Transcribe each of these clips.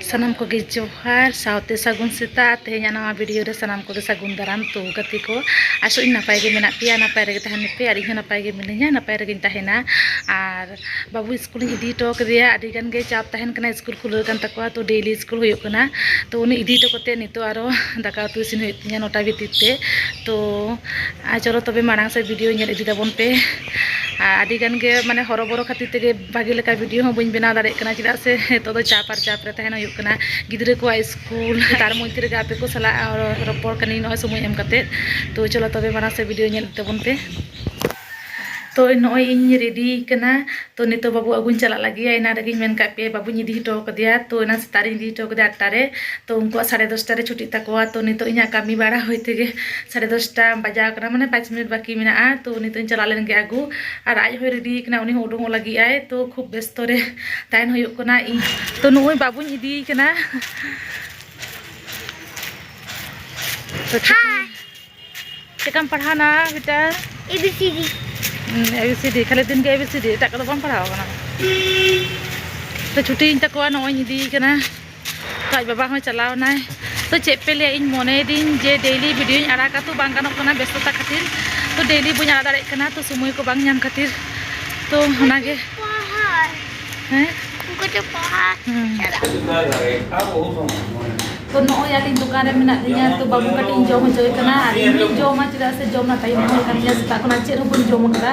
ᱥᱟᱱᱟᱢ ᱠᱚᱜᱮ ᱡᱚᱦᱟᱨ ᱥᱟᱶᱛᱮ ᱥᱟᱹᱜᱩᱱ ᱥᱮᱛᱟᱜ ᱛᱮᱦᱮᱧᱟᱜ ᱱᱟᱣᱟ ᱵᱷᱤᱰᱤᱭᱳ ᱨᱮ ᱥᱟᱱᱟᱢ ᱠᱚᱜᱮ ᱥᱟᱹᱜᱩᱱ ᱫᱟᱨᱟᱢ ᱛᱚ ᱜᱟᱛᱮ ᱠᱚ ᱟᱥᱚᱜ ᱤᱧ ᱱᱟᱯᱟᱭ ᱜᱮ ᱢᱮᱱᱟᱜ ᱯᱮᱭᱟ ᱱᱟᱯᱟᱭ ᱨᱮᱜᱮ ᱛᱟᱦᱮᱱ ᱯᱮ ᱟᱨ ᱤᱧ ᱦᱚᱸ ᱱᱟᱯᱟᱭ ᱜᱮ ᱢᱤᱱᱟᱹᱧᱟ ᱱᱟᱯᱟᱭ ᱨᱮᱜᱮᱧ ᱛᱟᱦᱮᱱᱟ ᱟᱨ ᱵᱟᱹᱵᱩ ᱤᱥᱠᱩᱞᱤᱧ ᱤᱫᱤ ᱦᱚᱴᱚ ᱠᱟᱫᱮᱭᱟ ᱟᱹᱰᱤ ᱜᱟᱱ ᱜᱮ ᱪᱟᱯ ᱛᱟᱦᱮᱱ ᱠᱟᱱᱟ ᱤᱥᱠᱩᱞ ᱠᱷᱩᱞᱟᱹᱣ ᱠᱟᱱ ᱛᱟᱠᱚᱣᱟ ᱛᱚ ᱰᱮᱞᱤ ᱤᱥᱠᱩᱞ ᱦᱩᱭᱩᱜ ᱠᱟᱱᱟ ᱛᱚ ᱩᱱᱤ ᱤᱫᱤ ᱦᱚᱴᱚ ᱠᱟᱛᱮᱫ ᱱᱤᱛᱚᱜ ᱟᱨᱚ ᱫᱟᱠᱟ ᱩᱛᱩ ᱤᱥᱤᱱ ᱦᱩᱭᱩᱜ ᱛᱤᱧᱟᱹ ᱱᱚᱴᱟ ᱵᱷᱤᱛᱤᱨ ᱛᱮ ᱛᱚ ᱟᱨ ᱪᱚᱞᱚ ᱛᱚᱵᱮ ᱢᱟᱲᱟᱝ ᱥᱮᱫ ᱵᱷᱤᱰᱤᱭᱳ ᱧᱮᱞ ᱤᱫᱤ ᱛᱟᱵᱚᱱ ᱯᱮ ᱟᱨ ᱟᱹᱰᱤ ᱜᱟᱱ ᱜᱮ ᱢᱟᱱᱮ ᱦᱚᱨᱚᱵᱚᱨᱚ ᱠᱷᱟᱹᱛᱤᱨ ᱛᱮᱜᱮ ᱵᱷᱟᱜᱮ ᱞᱮᱠᱟ ᱵᱷᱤᱰᱤᱭᱳ ᱦᱚᱸ ᱵᱟᱹᱧ ᱵᱮᱱᱟᱣ ᱫᱟᱲᱮᱭᱟᱜ ᱠᱟᱱᱟ ᱪᱮᱫᱟᱜ ᱥᱮ ᱱᱤᱛᱚᱜ ᱫᱚ ᱪᱟᱯ ᱟᱨ ᱪᱟᱯ ᱨᱮ ᱛᱟᱦᱮᱱ ᱦᱩᱭᱩᱜ ᱠᱟᱱᱟ ᱜᱤᱫᱽᱨᱟᱹ ᱠᱚᱣᱟᱜ ᱥᱠᱩᱞ ᱛᱟᱨ ᱢᱚᱫᱽᱫᱷᱮ ᱨᱮᱜᱮ ᱟᱯᱮ ᱠᱚ ᱥᱟᱞᱟᱜ ᱨᱚᱯᱚᱲ ᱠᱟᱹᱱᱟᱹᱧ ᱱᱚᱜᱼᱚᱭ ᱥᱚᱢᱚᱭ ᱮᱢ ᱠᱟᱛᱮ ᱛᱚ ᱪᱚᱞᱚ ᱛᱚᱵᱮ ᱢᱟᱲᱟᱝ ᱥᱮᱫ ᱵᱷᱤᱰᱤᱭᱳ ᱧᱮᱞ ᱤᱫᱤ ᱛᱟᱵᱚᱱ ᱯᱮ ᱛᱚ ᱱᱚᱜᱼᱚᱭ ᱤᱧ ᱨᱮᱰᱤ ᱠᱟᱱᱟ ᱛᱚ ᱱᱤᱛᱚᱜ ᱵᱟᱹᱵᱩ ᱟᱹᱜᱩᱧ ᱪᱟᱞᱟᱜ ᱞᱟᱹᱜᱤᱫ ᱮᱱᱟ ᱨᱮᱜᱮᱧ ᱢᱮᱱ ᱠᱟᱜ ᱯᱮ ᱵᱟᱹᱵᱩᱧ ᱤᱫᱤ ᱦᱚᱴᱚ ᱠᱟᱫᱮᱭᱟ ᱛᱚ ᱮᱱᱟ ᱥᱮᱛᱟᱜ ᱨᱮᱧ ᱤᱫᱤ ᱦᱚᱴᱚ ᱠᱟᱫᱮᱭᱟ ᱟᱴᱴᱟ ᱨᱮ ᱛᱚ ᱩᱱᱠᱩᱣᱟᱜ ᱥᱟᱲᱮ ᱫᱚᱥᱴᱟ ᱨᱮ ᱪᱷᱩᱴᱤᱜ ᱛᱟᱠᱚᱣᱟ ᱛᱚ ᱱᱤᱛᱚᱜ ᱤᱧᱟᱹᱜ ᱠᱟᱹᱢᱤ ᱵᱟᱲᱟ ᱦᱩᱭ ᱛᱮᱜᱮ ᱥᱟᱲᱮ ᱫᱚᱥᱴᱟ ᱵᱟᱡᱟᱣ ᱠᱟᱱᱟ ᱢᱟᱱᱮ ᱯᱟᱸᱪ ᱢᱤᱱᱤᱴ ᱵᱟᱹᱠᱤ ᱢᱮᱱᱟᱜᱼᱟ ᱛᱚ ᱱᱤᱛᱚᱜ ᱤᱧ ᱪᱟᱞᱟᱣ ᱞᱮᱱ ᱜᱮ ᱟᱹᱜᱩ ᱟᱨ ᱟᱡ ᱦᱚᱸᱭ ᱨᱮᱰᱤ ᱠᱟᱱᱟ ᱩᱱᱤ ᱦᱚᱸ ᱩᱰᱩᱝᱚᱜ ᱞᱟᱹᱜᱤᱫ ᱟᱭ ᱛᱚ ᱠᱷᱩᱵ ᱵᱮᱥᱛᱚ ᱨᱮ ᱛᱟᱦᱮᱱ ᱦᱩᱭᱩᱜ ᱠᱟᱱᱟ ᱤᱧ ᱛᱚ ᱱᱩᱭ ᱵᱟᱹᱵᱩᱧ ᱤᱫᱤ ᱠᱟᱱᱟ ᱛᱚ ᱪᱮᱠᱟᱢ ᱯᱟᱲᱦᱟᱣᱱᱟ ᱵᱮᱴᱟ ᱮᱵᱤᱥᱤᱰᱤ ᱮᱵᱤᱥᱤᱰᱤ ᱠᱷᱟᱹᱞᱤ ᱫᱤᱱ ᱜᱮ ᱮᱵᱤᱥᱤᱰᱤ ᱮᱴᱟᱜ ᱠᱚᱫᱚ ᱵᱟᱢ ᱯᱟᱲᱦᱟᱣ ᱠᱟᱱᱟ ᱛᱚ ᱪᱷᱩᱴᱤᱭᱮᱱ ᱛᱟᱠᱚᱣᱟ ᱱᱚᱜᱼᱚᱭ ᱤᱧ ᱤᱫᱤᱭᱮ ᱠᱟᱱᱟ ᱟᱡ ᱵᱟᱵᱟ ᱦᱚᱸ ᱪᱟᱞᱟᱣ ᱮᱱᱟᱭ ᱛᱚ ᱪᱮᱫ ᱯᱮ ᱞᱟᱹᱭᱟ ᱤᱧ ᱢᱚᱱᱮᱭᱮᱫᱤᱧ ᱡᱮ ᱰᱮᱭᱞᱤ ᱵᱷᱤᱰᱤᱭᱳᱧ ᱟᱲᱟᱜᱟ ᱛᱚ ᱵᱟᱝ ᱜᱟᱱᱚᱜ ᱠᱟᱱᱟ ᱵᱮᱥᱛᱚᱛᱟ ᱠᱷᱟᱹᱛᱤᱨ ᱛᱚ ᱰᱮᱭᱞᱤ ᱵᱟᱹᱧ ᱟᱲᱟᱜ ᱫᱟᱲᱮᱭᱟᱜ ᱠᱟᱱᱟ ᱛᱚ ᱥᱚᱢᱚᱭ ᱠᱚ ᱵᱟᱝ ᱧᱟᱢ ᱠᱷᱟᱹᱛᱤᱨ ᱛᱚ ᱚᱱᱟᱜᱮ ᱦᱮᱸ ᱛᱚ ᱱᱚᱜᱼᱚᱭ ᱟᱹᱞᱤᱧ ᱫᱚᱠᱟᱱ ᱨᱮ ᱢᱮᱱᱟᱜ ᱞᱤᱧᱟ ᱛᱚ ᱵᱟᱹᱵᱩ ᱠᱟᱹᱴᱤᱡ ᱤᱧ ᱡᱚᱢ ᱦᱚᱪᱚᱭᱮ ᱠᱟᱱᱟ ᱟᱨ ᱤᱧ ᱡᱚᱢᱟ ᱪᱮᱫᱟᱜ ᱥᱮ ᱡᱚᱢ ᱨᱮᱱᱟᱜ ᱴᱟᱭᱤᱢ ᱦᱚᱸ ᱦᱩᱭ ᱠᱟᱱ ᱜᱮᱭᱟ ᱥᱮᱛᱟᱜ ᱠᱷᱚᱱᱟᱜ ᱪᱮᱫ ᱦᱚᱸ ᱵᱟᱹᱧ ᱡᱚᱢ ᱟᱠᱟᱫᱟ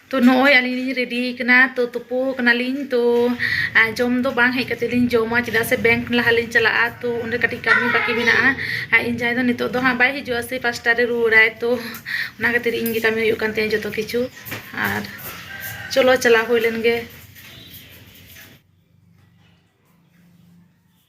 ᱛᱚ ᱱᱚᱜᱼᱚᱭ ᱟᱹᱞᱤᱧ ᱞᱤᱧ ᱨᱮᱰᱤ ᱟᱠᱟᱱᱟ ᱛᱚ ᱛᱩᱯᱩ ᱠᱟᱱᱟᱞᱤᱧ ᱛᱚ ᱡᱚᱢ ᱫᱚ ᱵᱟᱝ ᱦᱮᱡ ᱠᱟᱛᱮ ᱞᱤᱧ ᱡᱚᱢᱟ ᱪᱮᱫᱟᱜ ᱥᱮ ᱵᱮᱝᱠ ᱞᱟᱦᱟ ᱞᱤᱧ ᱪᱟᱞᱟᱜᱼᱟ ᱛᱚ ᱚᱸᱰᱮ ᱠᱟᱹᱴᱤᱡ ᱠᱟᱹᱢᱤ ᱵᱟᱹᱠᱤ ᱢᱮᱱᱟᱜᱼᱟ ᱟᱨ ᱤᱧ ᱡᱟᱶᱟᱭ ᱫᱚ ᱱᱤᱛᱚᱜ ᱫᱚ ᱦᱟᱸᱜ ᱵᱟᱭ ᱦᱤᱡᱩᱜᱼᱟ ᱥᱮᱭ ᱯᱟᱸᱪᱴᱟ ᱨᱮ ᱨᱩᱣᱟᱹᱲᱟᱭ ᱛᱚ ᱚᱱᱟ ᱠᱷᱟᱹᱛᱤᱨ ᱤᱧ ᱜᱮ ᱠᱟᱹᱢᱤ ᱦᱩᱭᱩᱜ ᱠᱟᱱ ᱛᱤᱧᱟ ᱡᱚᱛᱚ ᱠᱤᱪᱷᱩ ᱟᱨ ᱪᱚᱞᱚ ᱪᱟᱞᱟᱣ ᱦᱩᱭ ᱞᱮᱱ ᱜᱮ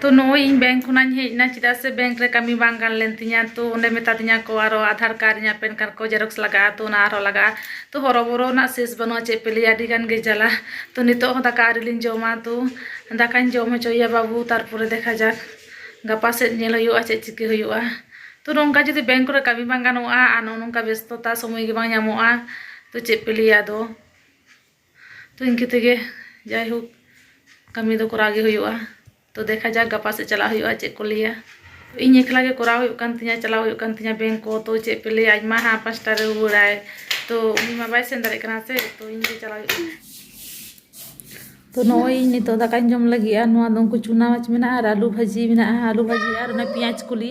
ᱛᱚ ᱱᱚᱜᱼᱚᱭ ᱤᱧ ᱵᱮᱝᱠ ᱠᱷᱚᱱᱟᱜ ᱤᱧ ᱦᱮᱡ ᱮᱱᱟ ᱪᱮᱫᱟᱜ ᱥᱮ ᱵᱮᱝᱠ ᱨᱮ ᱠᱟᱹᱢᱤ ᱵᱟᱝ ᱜᱟᱱ ᱞᱮᱱ ᱛᱤᱧᱟᱹ ᱛᱚ ᱚᱸᱰᱮ ᱢᱮᱛᱟ ᱫᱤᱧᱟᱹ ᱠᱚ ᱟᱨᱚ ᱟᱫᱷᱟᱨ ᱠᱟᱨᱰ ᱤᱧᱟᱹᱜ ᱯᱮᱱ ᱠᱟᱨᱰ ᱠᱚ ᱡᱮᱨᱚᱠᱥ ᱞᱟᱜᱟᱜᱼᱟ ᱛᱚ ᱚᱱᱟ ᱟᱨᱦᱚᱸ ᱞᱟᱜᱟᱜᱼᱟ ᱛᱚ ᱦᱚᱨᱚᱵᱚᱨᱚ ᱨᱮᱱᱟᱜ ᱥᱮᱥ ᱵᱟᱹᱱᱩᱜᱼᱟ ᱪᱮᱫ ᱯᱮ ᱞᱟᱹᱭᱟ ᱟᱹᱰᱤ ᱜᱟᱱ ᱜᱮ ᱡᱟᱞᱟ ᱛᱚ ᱱᱤᱛᱚᱜ ᱦᱚᱸ ᱫᱟᱠᱟ ᱟᱹᱣᱨᱤ ᱞᱤᱧ ᱡᱚᱢᱟ ᱛᱚ ᱫᱟᱠᱟᱧ ᱡᱚᱢ ᱦᱚᱪᱚᱭᱮᱭᱟ ᱵᱟᱹᱵᱩ ᱛᱟᱨᱯᱚᱨᱮ ᱫᱮᱠᱷᱟ ᱡᱟᱠ ᱜᱟᱯᱟ ᱥᱮᱫ ᱧᱮᱞ ᱦᱩᱭᱩᱜᱼᱟ ᱪᱮᱫ ᱪᱤᱠᱟᱹ ᱦᱩᱭᱩᱜᱼᱟ ᱛᱚ ᱱᱚᱝᱠᱟ ᱡᱩᱫᱤ ᱵᱮᱝᱠ ᱠᱚᱨᱮ ᱠᱟᱹᱢᱤ ᱵᱟᱝ ᱜᱟᱱᱚᱜᱼᱟ ᱟᱨ ᱱᱚᱜᱼᱚ ᱱᱚᱝᱠᱟ ᱵᱮᱥᱛᱚᱛᱟ ᱥᱚᱢᱚᱭ ᱜᱮ ᱵᱟᱝ ᱧᱟᱢᱚᱜᱼᱟ ᱛᱚ ᱪᱮᱫ ᱯᱮ ᱞᱟᱹᱭᱟ ᱟᱫᱚ ᱛᱚ ᱤᱱᱠᱟᱹ ᱛᱮᱜᱮ ᱡᱟᱭᱦᱳᱠ ᱠᱟᱹᱢᱤ ᱫᱚ ᱠᱚᱨᱟᱣ ᱜᱮ ᱦᱩᱭᱩᱜᱼᱟ ᱛᱚ ᱫᱮᱠᱷᱟ ᱡᱟᱠ ᱜᱟᱯᱟ ᱥᱮᱫ ᱪᱟᱞᱟᱜ ᱦᱩᱭᱩᱜᱼᱟ ᱪᱮᱫ ᱠᱚ ᱞᱟᱹᱭᱟ ᱤᱧ ᱮᱠᱞᱟ ᱜᱮ ᱠᱚᱨᱟᱣ ᱦᱩᱭᱩᱜ ᱠᱟᱱ ᱛᱤᱧᱟᱹ ᱪᱟᱞᱟᱣ ᱦᱩᱭᱩᱜ ᱠᱟᱱ ᱛᱤᱧᱟᱹ ᱵᱮᱝᱠ ᱠᱚ ᱛᱚ ᱪᱮᱫ ᱯᱮ ᱞᱟᱹᱭᱟ ᱟᱡ ᱢᱟ ᱦᱟᱸᱜ ᱯᱟᱸᱪᱴᱟ ᱨᱮ ᱨᱩᱣᱟᱹᱲᱟᱭ ᱛᱚ ᱩᱱᱤ ᱢᱟ ᱵᱟᱭ ᱥᱮᱱ ᱫᱟᱲᱮᱭᱟᱜ ᱠᱟᱱᱟ ᱥᱮ ᱛᱚ ᱤᱧ ᱜᱮ ᱪᱟᱞᱟᱣ ᱦᱩᱭᱩᱜ ᱠᱟᱱᱟ ᱛᱚ ᱱᱚᱜᱼᱚᱭ ᱤᱧ ᱱᱤᱛᱚᱜ ᱫᱟᱠᱟᱧ ᱡᱚᱢ ᱞᱟᱹᱜᱤᱫᱼᱟ ᱱᱚᱣᱟ ᱫᱚ ᱩᱱᱠᱩ ᱪᱩᱱᱟ ᱢᱟᱪ ᱢᱮᱱᱟᱜᱼᱟ ᱟᱨ ᱟᱹᱞᱩ ᱵᱷᱟᱹᱡᱤ ᱢᱮᱱᱟᱜᱼᱟ ᱟᱹᱞᱩ ᱵᱷᱟᱹᱡᱤ ᱟᱨ ᱚᱱᱟ ᱯᱮᱸᱭᱟᱡᱽ ᱠᱚᱞᱤ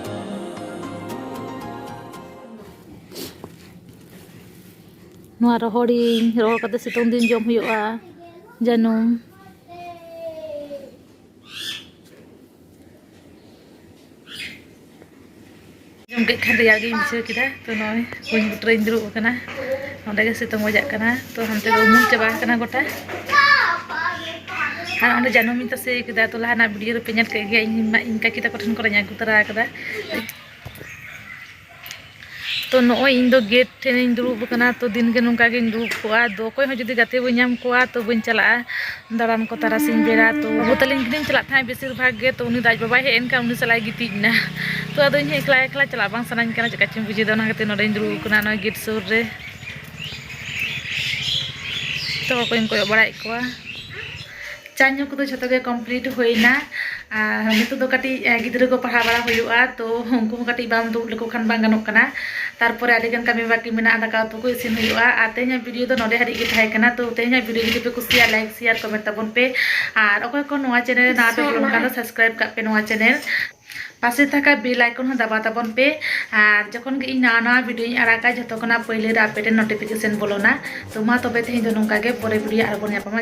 ᱱᱚᱣᱟ ᱨᱚᱦᱚᱲᱤᱧ ᱨᱚᱦᱚᱲ ᱠᱟᱛᱮ ᱥᱤᱛᱩᱝ ᱫᱤᱱ ᱡᱚᱢ ᱦᱩᱭᱩᱜᱼᱟ ᱡᱟᱹᱱᱩᱢ ᱡᱚᱢ ᱠᱮᱫ ᱠᱷᱟᱱ ᱨᱮᱭᱟᱲ ᱜᱤᱧ ᱵᱩᱡᱷᱟᱹᱣ ᱠᱮᱫᱟ ᱛᱚ ᱱᱚᱜᱼᱚᱭ ᱠᱩᱧ ᱵᱩᱴᱟᱹᱨᱤᱧ ᱫᱩᱲᱩᱵ ᱟᱠᱟᱱᱟ ᱚᱸᱰᱮ ᱜᱮ ᱥᱤᱛᱩᱝ ᱵᱟᱡᱟᱜ ᱠᱟᱱᱟ ᱛᱚ ᱦᱟᱱᱛᱮ ᱫᱚ ᱩᱢᱩᱞ ᱪᱟᱵᱟ ᱟᱠᱟᱱᱟ ᱜᱚᱴᱟ ᱟᱨ ᱚᱸᱰᱮ ᱡᱟᱱᱟᱢᱤᱧ ᱛᱟᱥᱮ ᱠᱮᱫᱟ ᱛᱚ ᱞᱟᱦᱟᱱᱟᱜ ᱵᱷᱤᱰᱤᱭᱳ ᱨᱮᱯᱮ ᱧᱮᱞ ᱠᱮᱫ ᱜᱮᱭᱟ ᱤᱧ ᱤᱧ ᱠᱟᱹᱠᱤ ᱛᱟᱠᱚ ᱴᱷᱮᱱ ᱠᱚᱨᱮᱧ ᱟᱹᱜᱩ ᱛᱚᱨᱟ ᱟᱠᱟᱫᱟ ᱛᱚ ᱱᱚᱜᱼᱚᱭ ᱤᱧ ᱫᱚ ᱜᱮᱴ ᱴᱷᱮᱱᱤᱧ ᱫᱩᱲᱩᱵ ᱟᱠᱟᱱᱟ ᱛᱚ ᱫᱤᱱ ᱜᱮ ᱱᱚᱝᱠᱟ ᱜᱤᱧ ᱫᱩᱲᱩᱵ ᱠᱚᱜᱼᱟ ᱫᱚ ᱚᱠᱚᱭ ᱦᱚᱸ ᱡᱩᱫᱤ ᱜᱟᱛᱮ ᱵᱟᱹᱧ ᱧᱟᱢ ᱠᱚᱣᱟ ᱛᱚ ᱵᱟᱹᱧ ᱪᱟᱞᱟᱜᱼᱟ ᱫᱟᱬᱟᱱ ᱠᱚ ᱛᱟᱨᱟᱥᱤᱧ ᱵᱮᱲᱟ ᱛᱚ ᱵᱟᱹᱵᱩ ᱛᱟᱹᱞᱤᱧ ᱜᱮᱞᱤᱧ ᱪᱟᱞᱟᱜ ᱛᱟᱦᱮᱸᱫ ᱵᱮᱥᱤᱨ ᱵᱷᱟᱜᱽ ᱜᱮ ᱛᱚ ᱩᱱᱤ ᱫᱚ ᱟᱡ ᱵᱟᱵᱟᱭ ᱦᱮᱡ ᱮᱱ ᱠᱷᱟᱱ ᱩᱱᱤ ᱥᱟᱞᱟᱜ ᱜᱤᱛᱤᱡ ᱮᱱᱟ ᱛᱚ ᱟᱫᱚ ᱤᱧ ᱦᱚᱸ ᱮᱠᱞᱟ ᱮᱠᱞᱟ ᱪᱟᱞᱟᱜ ᱵᱟᱝ ᱥᱟᱱᱟᱧ ᱠᱟᱱᱟ ᱪᱮᱫᱠᱟ ᱪᱚᱧ ᱵᱩᱡᱷᱟᱹᱣᱮᱫᱟ ᱚᱱᱟ ᱠᱷᱟᱹᱛᱤᱨ ᱱᱚᱰᱮᱧ ᱫᱩᱲᱩᱵ ᱟᱠᱟᱱᱟ ᱱᱚᱜᱼᱚᱭ ᱜᱮᱴ ᱥᱩᱨ ᱨᱮ ᱡᱚᱛᱚ ᱦᱚᱲ ᱠᱚᱧ ᱠᱚᱭᱚᱜ ᱵᱟᱲᱟᱭᱮᱫ ᱠᱚᱣᱟ ᱪᱟ ᱧᱩ ᱠᱚᱫᱚ ᱡᱷᱚᱛᱚ ᱜᱮ ᱠᱚᱢᱯᱞᱤᱴ ᱦᱩᱭᱱᱟ ᱟᱨ ᱱᱤᱛᱚᱜ ᱫᱚ ᱠᱟᱹᱴᱤᱡ ᱜᱤᱫᱽᱨᱟᱹ ᱠᱚ ᱯᱟᱲᱦᱟᱣ ᱵᱟᱲᱟ ᱦᱩᱭᱩᱜᱼᱟ ᱛᱚ ᱩᱱᱠᱩ ᱦᱚᱸ ᱠᱟᱹᱴᱤᱡ ᱵᱟᱢ ᱫᱩᱲᱩᱵ ᱞᱮᱠᱚ ᱠᱷᱟᱱ ᱵᱟᱝ ᱜᱟᱱᱚᱜ ᱠᱟᱱᱟ ᱛᱟᱨᱯᱚᱨᱮ ᱟᱹᱰᱤᱜᱟᱱ ᱠᱟᱹᱢᱤ ᱵᱟᱹᱠᱤ ᱢᱮᱱᱟᱜᱼᱟ ᱫᱟᱠᱟ ᱩᱛᱩ ᱠᱚ ᱤᱥᱤᱱ ᱦᱩᱭᱩᱜᱼᱟ ᱟᱨ ᱛᱮᱦᱮᱧᱟᱜ ᱵᱷᱤᱰᱤᱭᱳ ᱫᱚ ᱱᱚᱰᱮ ᱦᱟᱹᱨᱤᱡ ᱜᱮ ᱛᱟᱦᱮᱸ ᱠᱟᱱᱟ ᱛᱚ ᱛᱮᱦᱮᱧᱟᱜ ᱵᱷᱤᱰᱤᱭᱳ ᱡᱩᱫᱤ ᱯᱮ ᱠᱩᱥᱤᱭᱟ ᱞᱟᱭᱤᱠ ᱥᱮᱭᱟᱨ ᱠᱚᱢᱮᱱᱴ ᱛᱟᱵᱚᱱ ᱯᱮ ᱟᱨ ᱚᱠᱚᱭ ᱠᱚ ᱱᱚᱣᱟ ᱪᱮᱱᱮᱞ ᱨᱮ ᱱᱟᱣᱟ ᱯᱮ ᱵᱚᱞᱚᱱ ᱠᱟᱱ ᱫᱚ ᱥᱟᱵᱥᱠᱨᱟᱭᱤᱵ ᱠᱟᱜ ᱯᱮ ᱱᱚᱣᱟ ᱪᱮᱱᱮᱞ ᱯᱟᱥᱮ ᱛᱷᱟᱠᱟ ᱵᱮᱞ ᱟᱭᱠᱚᱱ ᱦᱚᱸ ᱫᱟᱵᱟ ᱛᱟᱵᱚᱱ ᱯᱮ ᱟᱨ ᱡᱚᱠᱷᱚᱱ ᱜᱮ ᱤᱧ ᱱᱟᱣᱟ ᱱᱟᱣᱟ ᱵᱷᱤᱰᱤᱭᱳᱧ ᱟᱲᱟᱜᱟ ᱡᱷᱚᱛᱚ ᱠᱷᱚᱱᱟᱜ ᱯᱟᱹᱭᱞᱟᱹ ᱨᱮ ᱟᱯᱮ ᱴᱷᱮᱱ ᱱᱳᱴᱤᱯᱷᱤᱠᱮᱥᱚᱱ ᱵᱚᱞᱚᱱᱟ ᱛᱚ ᱢᱟ ᱛᱚᱵᱮ ᱛᱮᱦᱮᱧ ᱫᱚ ᱱᱚᱝᱠᱟ ᱜᱮ ᱯᱚᱨᱮ ᱵᱷᱤᱰᱤᱭᱳ ᱟᱨᱚ ᱵᱚᱱ ᱧᱟᱯᱟᱢᱟ